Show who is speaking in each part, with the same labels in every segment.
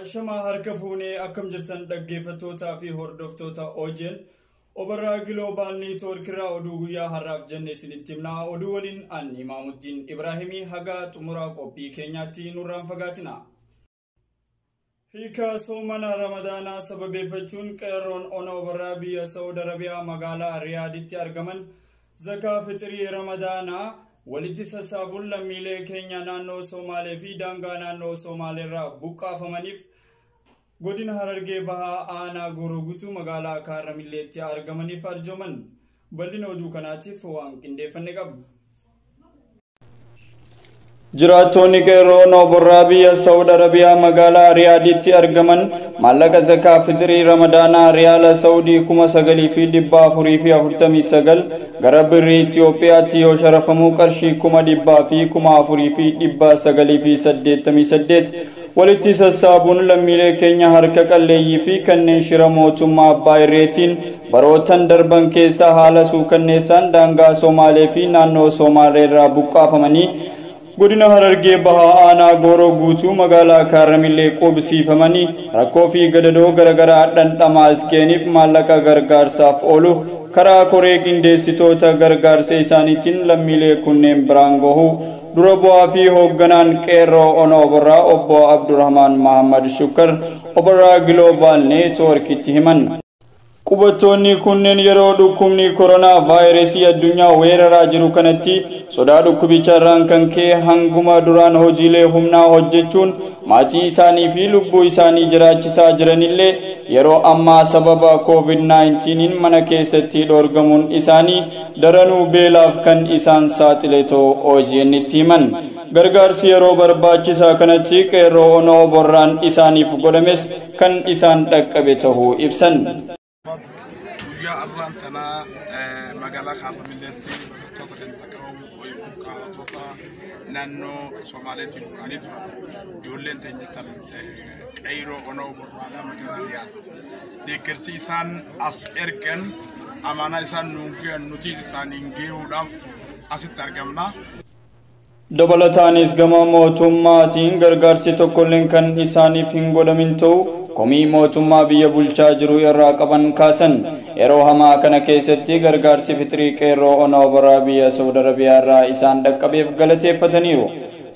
Speaker 1: Ashamaa harka fuunee akkam jirtan dhaggeeffattootaa fi hordoftoota OJN Obarraa Giloobaal Neetwoork irraa oduu guyyaa har'aaf jenne isinitti himna. Oduu waliin an Imaamuddin Ibraahimii haga xumuraa qophii keenyaatti nurraan fagaatina. Hiika soomana Ramadaanaa sababeeffachuun qeerroon ona Obarraa biyya Saawud Arabiyaa magaalaa Riyaaditti argaman Zakaa fixirii Ramadaanaa walitti sassaabuun lammiilee keenya naannoo Somaalee fi daangaa naannoo Somaaleerraa buqqaafamaniif godina Harargee Bahaa aanaa Gooroo Guutuu magaalaa Kaarra Milleetti argamaniif arjooman bal'ina oduu kanaatiif waan qindeeffanne qabna. Jiraattoonni qeerroo nooborraa biyya Saawud Arabiyaa magaalaa Riyaaditti argaman maallaqa zakaa fitirii Ramadaanaa Riyaala Saawudii 9,449 gara birrii Itiyoophiyaatti yoo sharafamu qarshii 400,488 Walitti sassaabuun lammiilee keenya harka qalleeyyii fi kanneen shira mootummaa abbaa irreetiin barootan darban keessa haala suukanneessaan daangaa Somaalee fi naannoo Soomaalee irraa buqqaafamanii Godina Harargee Bahaa Aanaa Gooroo Guutuu Magaalaa Kaarramillee quubsiifamanii rakkoo fi gadadoo garagaraa dhandhamaa as ga'eeniif maallaqa gargaarsaaf oolu karaa koree qindeessitoota gargaarsa isaaniitiin lammiilee kunneen biraan gahuu Dura bu'aa fi hoogganaan Qeerroo Ona Oborraa obbo Abdurrahmaan Mahammad Shukkar Oborraa Giloobaal Neetwoorkitti himan. Qubattoonni kunneen yeroo dhukkubni koronaa vaayirasii addunyaa weeraraa jiru kanatti sodaa dhukkubicha irraan kan ka'e hanguma duraan hojiilee humnaa hojjechuun maatii isaanii fi lubbuu isaanii jiraachisaa jiranillee yeroo ammaa sababa COVID-19n mana keessatti dhoorgamuun isaanii Daranuu beelaaf kan isaan saaxile ta'uu OGNtti himan. Gargaarsi yeroo barbaachisaa kanatti Qeerroo Ona Oborraan isaaniif godhames kan isaan dhaqqabe ta'uu ibsan.
Speaker 2: Guyyaa arraan tana magaalaa Kaarramilleetti barattoota kan takkaawamu buqqaatota naannoo Somaaleetii buqqaanii turan ijoolleen teenyatan qeerroo onoo borraadhaa magaalaa dhiyaatti. deeggarsi isaan as ergan amaanaa isaan nuun gahan nuti isaaniin gahuudhaaf asitti argamna. Dabalataanis gama mootummaatiin gargaarsi tokkolleen kan isaaniif hin godhamin ta'u komii mootummaa biyya bulchaa jiru irraa qaban kaasan. Yeroo hamaa kana keessatti gargaarsi fixrii qeerroo onaa obaraa biyya Saudi Arabiyaa irraa isaan dhaqqabeef galateeffataniiru.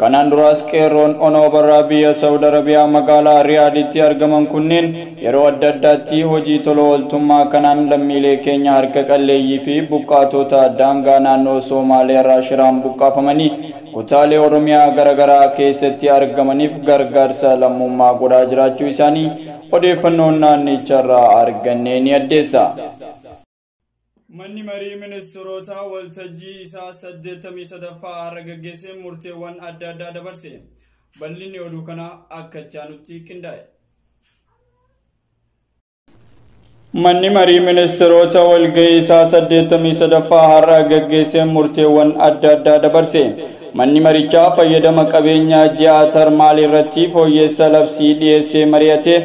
Speaker 2: Kanaan duraas Qeerroon Ona Obarraa biyya Sa'ud Arabiyaa magaalaa Riyaaditti argaman kunneen yeroo adda addaatti hojii tola ooltummaa kanaan lammiilee keenya harka qalleeyyii fi buqqaatoota daangaa naannoo Soomaaliyaarraa shiraan buqqaafamanii kutaalee Oromiyaa garagaraa keessatti argamaniif gargaarsa lammummaa godhaa jiraachuu isaanii odeeffannoon naannicharraa arganne ni addeessa. Manni marii ministirootaa waltajjii isaa 83ffaa har'a gaggeessee murteewwan adda addaa dabarse. Bal'inni oduu kanaa akka itti aanutti qindaa'e. Manni marii ministiroota walga'ii isaa 83ffaa har'a gaggeessee murteewwan adda addaa dabarse. Manni marichaa fayyadama qabeenya ji'aa tarmaal irratti fooyyeessa labsii dhiyeessee mari'atee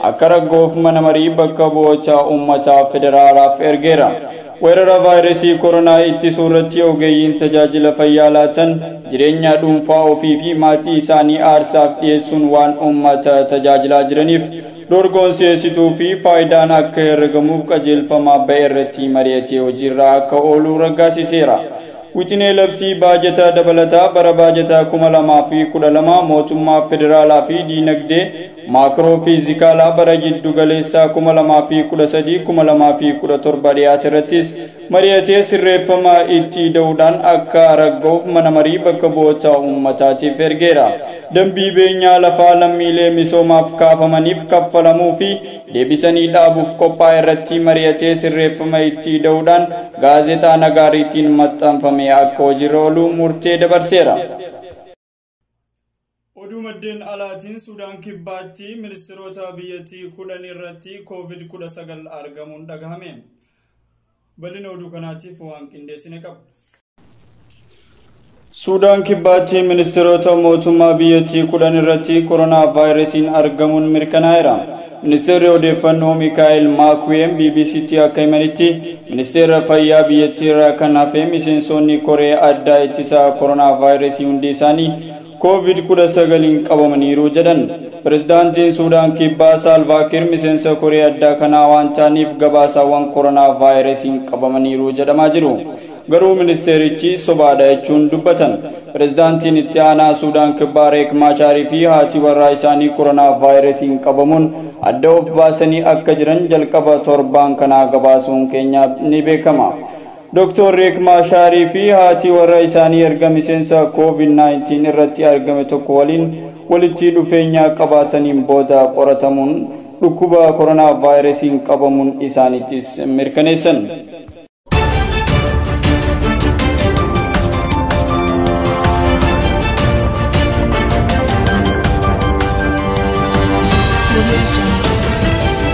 Speaker 2: akka raggoof mana marii bakka bu'oota uummataa federaalaaf ergeera. Weerara vaayiresii koronaa ittisuu irratti ogeeyyiin tajaajila fayyaa laatan jireenya dhuunfaa ofii fi maatii isaanii aarsaaf dhiyeessuun waan uummata tajaajilaa jiraniif dorgoon si'eessituu fi faayidaan akka herregamuuf qajeelfama ba'e irratti mari'atee hojiirra akka oolu raggaasiseera. Wixinee labsii baajata dabalataa bara baajataa 2012 mootummaa federaalaa fi diinagdee maakroo fiizikaalaa bara jiddu galeessaa 2013-2017 dhiyaate irrattis mari'atee sirreeffama itti ida'uudhaan akka ragga'uuf mana marii bakka bu'oota uummataatiif ergeera. Dambii beenyaa lafaa lammiilee misoomaaf kaafamaniif kaffalamuu fi deebisanii dhaabuuf qophaa'e irratti mari'atee sirreeffama itti ida'uudhaan Gaazexaa Nagaariitiin maxxanfame akka hojiirra oolu murtee dabarseera. Oduu maddeen alaatiin Sudaan Kibbaatti ministiroota biyyattii kudhan irratti Covid 19 argamuun dhagahame. Bal'ina oduu kanaatiif waan qindeessine qabna. Suudaan kibbaatti ministeerota mootummaa biyyattii kudhan irratti koronaa vaayirasiin argamuun mirkanaa'eera. Ministeerri odeeffannoo Mikaa'el Maakuweem BBCtti akka himanitti ministeera fayyaa biyyattii irraa kan hafe miseensonni koree addaa ittisaa koronaa vaayirasii hundi isaanii Covid 19n
Speaker 1: qabamaniiru jedhan. Pirezidaantiin Suudaan Kibbaa Saalvaa Kiir miseensa koree addaa kanaa waan ta'aniif gabaasaawwan koronaa vaayirasiin qabamaniiru jedhamaa jiru. Garuu ministeerichi sobaadha jechuun dubbatan. Pirezidaantiin itti aanaa Suudaan Kibbaa Reek Maachaarii fi haati warraa isaanii koronaa vaayirasiin qabamuun adda of baasanii akka jiran jalqaba torbaan kanaa gabaasuun keenya ni beekama. Doktoor Riik Maashaarii fi haati warra isaanii erga miseensa Covid 19 irratti argame tokko waliin walitti dhufeenya qabaataniin booda qoratamuun dhukkuba koronaavaayirasiin qabamun isaanittis mirkaneessan.